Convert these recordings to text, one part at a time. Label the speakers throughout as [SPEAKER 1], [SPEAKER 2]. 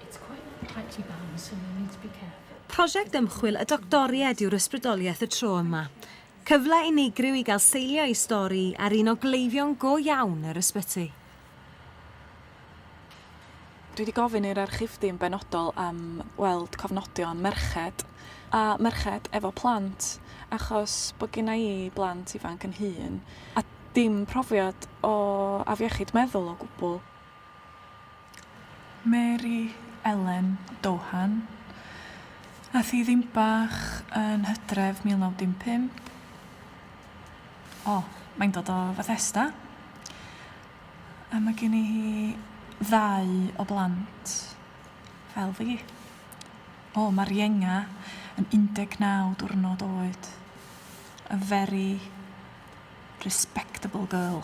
[SPEAKER 1] It's quite a pretty band so you need to be careful. Prosiect ymchwil y doctoried yw'r ysbrydoliaeth y tro yma. Cyfle unigryw i gael seilio ei stori ar un o gleifion go iawn yr ysbyty. Dwi wedi gofyn i'r archifdy yn benodol am weld cofnodion merched a merched efo plant achos bod genna i blant ifanc yn hun a dim profiad o afiechyd meddwl o gwbl. Mary Ellen Doohan. Ath hi ddim bach yn Hydref 1915. O, mae'n dod o Fethesda. A mae gen i hi ddau o blant fel fi. O, mae'r ienga yn 19 diwrnod oed. A very respectable girl.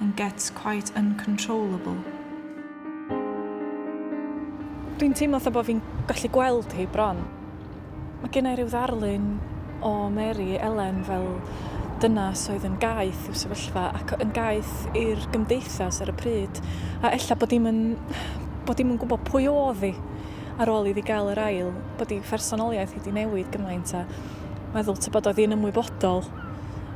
[SPEAKER 1] and gets quite uncontrollable. Dwi'n teimlo fatha bod fi'n gallu gweld hi bron. Mae gen i rhyw ddarlun o Mary Elen fel dynas oedd yn gaeth i'w sefyllfa ac yn gaeth i'r gymdeithas ar y pryd, a ella bod dim yn, bod dim yn gwybod pwy oedd hi ar ôl iddi gael yr ail, bod ei phersonoliaeth hi wedi newid gymaint a meddwl tybod oedd hi'n ymwybodol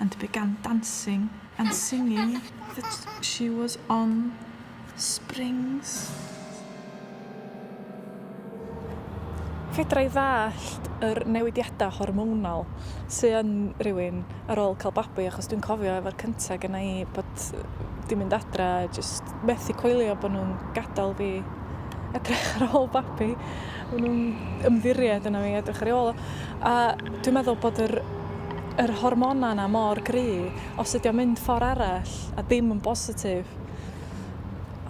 [SPEAKER 1] And began dancing and singing that she was on springs. Fedra i ddallt yr newidiadau hormonal sydd yn rhywun ar ôl cael babi achos dwi'n cofio efo'r cyntaf gyda i bod di mynd adra a jyst methu coelio bod nhw'n gadael fi edrych ar ôl babi. Ma' nw'n ymddiried yno i edrych ar ei ôl o. A dwi'n meddwl bod yr yr hormona 'na mor gry', os ydi o'n mynd ffor arall a dim yn bositif,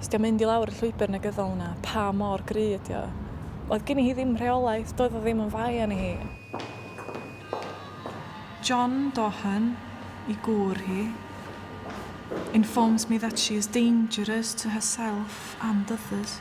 [SPEAKER 1] os 'di o'n mynd i lawr y llwybr negyddol 'na, pa mor gry' ydi o? Oedd gini hi ddim rheolaeth, doedd o ddim yn fai arni hi. John Dohan, 'i gŵr hi, informs me that she is dangerous to herself and others.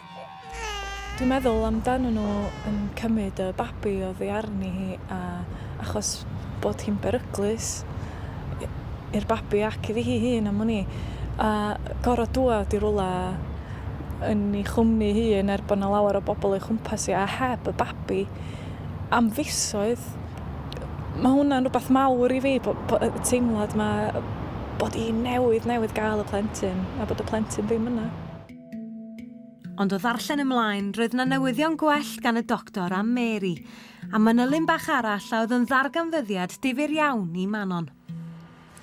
[SPEAKER 1] Dwi'n meddwl amdanyn nhw yn cymryd y babi oddi arni hi a achos bod hi'n beryglus i- i'r babi ac iddi hi hun am wn i a gor'o' dŵad i rwla yn 'i chwmni hun er bo' 'na lawer o bobol o'i chwmpas hi a heb y babi am fisoedd ma' hwnna'n rwbath mawr i fi bo' bo' y teimlad 'ma bod 'i newydd newydd ga'l y plentyn a bod y plentyn ddim yna. Ond o ddarllen ymlaen, roedd 'na newyddion gwell gan y doctor am Mary, a manylyn bach arall a oedd yn ddarganfyddiad difyr iawn i Manon.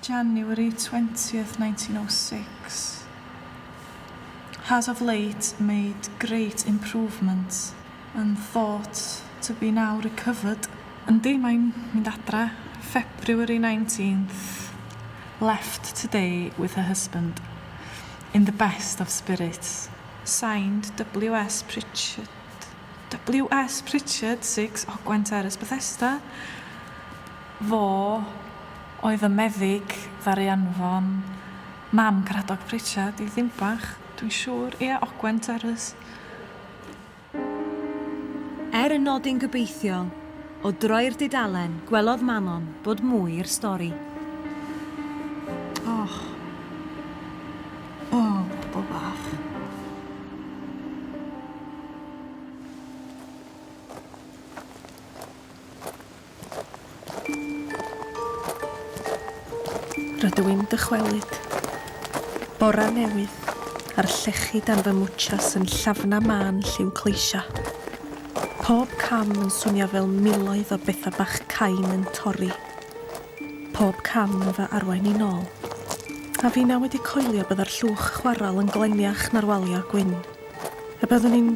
[SPEAKER 1] January 20th 1906 Has of late made great improvements and thought to be now recovered. Yndi, mae'n mynd adra. February 19th Left today with her husband. In the best of spirits. Signed, WS Pritchard WS Pritchard, 6 Ogwen Terrace, Bethesda. Fo oedd y meddyg ddaru anfon mam Caradog Pritchard i Ddinbach, dwi'n siŵr. Ia, Ogwen Terrace. Er y nodyn gobeithiol, o droi'r dudalen, gwelodd Manon bod mwy i'r stori. Och. O, bobl bach. Rydw i'n dychwelyd. Bora newydd, a'r llechi dan fy mwchas yn llafna mân lliw cleisia. Pob cam yn swnio fel miloedd o betha bach cain yn torri. Pob cam yn fy arwain i'n ôl. A finna wedi coelio bydda'r llwch chwarel yn gleniach na'r walio gwyn. A byddwn i'n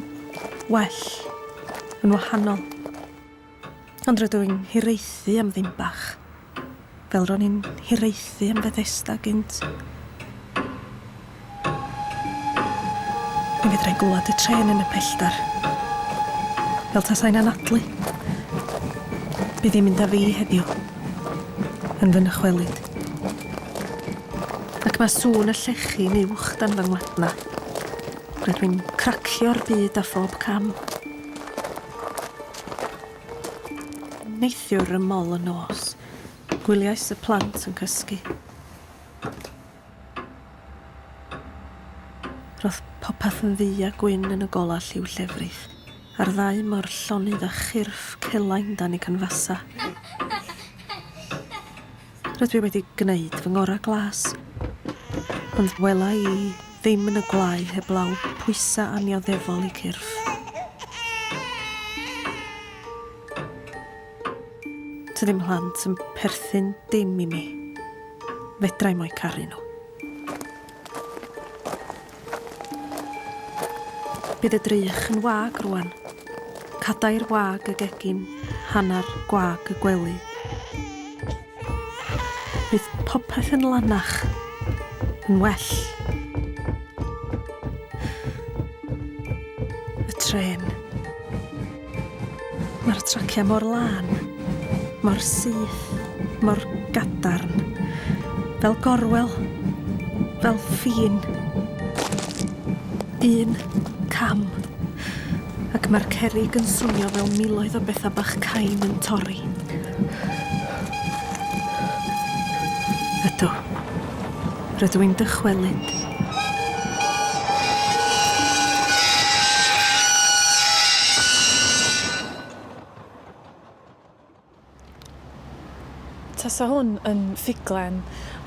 [SPEAKER 1] well, yn wahanol. Ond rydw i'n hiraethu am ddim bach, fel ro'n i'n hiraethu am Fethesda gynt. Mi fedrai'n glywed y trên yn y pellter, fel tasai'n anadlu. Bydd hi'n mynd â fi heddiw, yn fy nychwelyd. Ac mae sŵn y llechi'n uwch dan fy ngwadna. Rydw i'n cracio'r byd â phob cam. Neithiwr rymol y nos, gwyliais y plant yn cysgu. Roedd popeth yn ddu a gwyn yn y golau lliw llefrith, a'r ddau mor llonydd a chyrff celain dan y canfasau. Rydw i wedi gwneud fy ngorau glas, ond wela i ddim yn y gwlâu heblaw pwysau annioddefol i cyrff. Tydi mhlant yn perthyn dim i mi. Fedra i mo'i caru nhw. Bydd y drych yn wag rwan. Cadair wag y gegin, hanner gwag y gwely. Bydd popeth yn lanach, yn well. Y tren. Mae'r traciau mor lân, mor syth, mor gadarn. Fel gorwel, fel ffin. Un cam. Ac mae'r cerrig yn swnio fel miloedd o bethau bach cain yn torri. Ydw. Rydw i'n dychwelyd. Tasa hwn yn ffuglen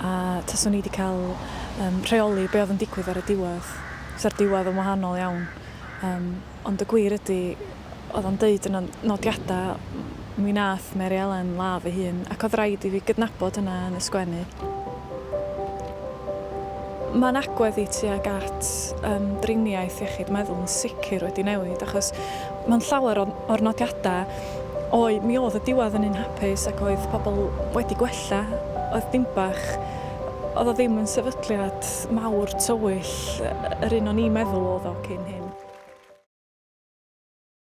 [SPEAKER 1] a taswn i wedi cael um, rheoli be oedd yn digwydd ar y diwedd. Sa'r diwedd yn wahanol iawn. Um, Ond y gwir ydi, oedd o'n deud yna nodiadau, mi wnaeth Mary Elen ladd ei hun, ac oedd raid i fi gydnabod hynna yn y sgwennu. Mae'n agwedd i tuag at ymdriniaeth iechyd meddwl yn sicr wedi newid, achos mewn llawer o'r nodiadau, oe, mi oedd y diwedd yn un hapus ac oedd pobl wedi gwella, oedd dim bach, Oedd o ddim yn sefydliad mawr tywyll yr un o'n i'n meddwl oedd o cyn hyn.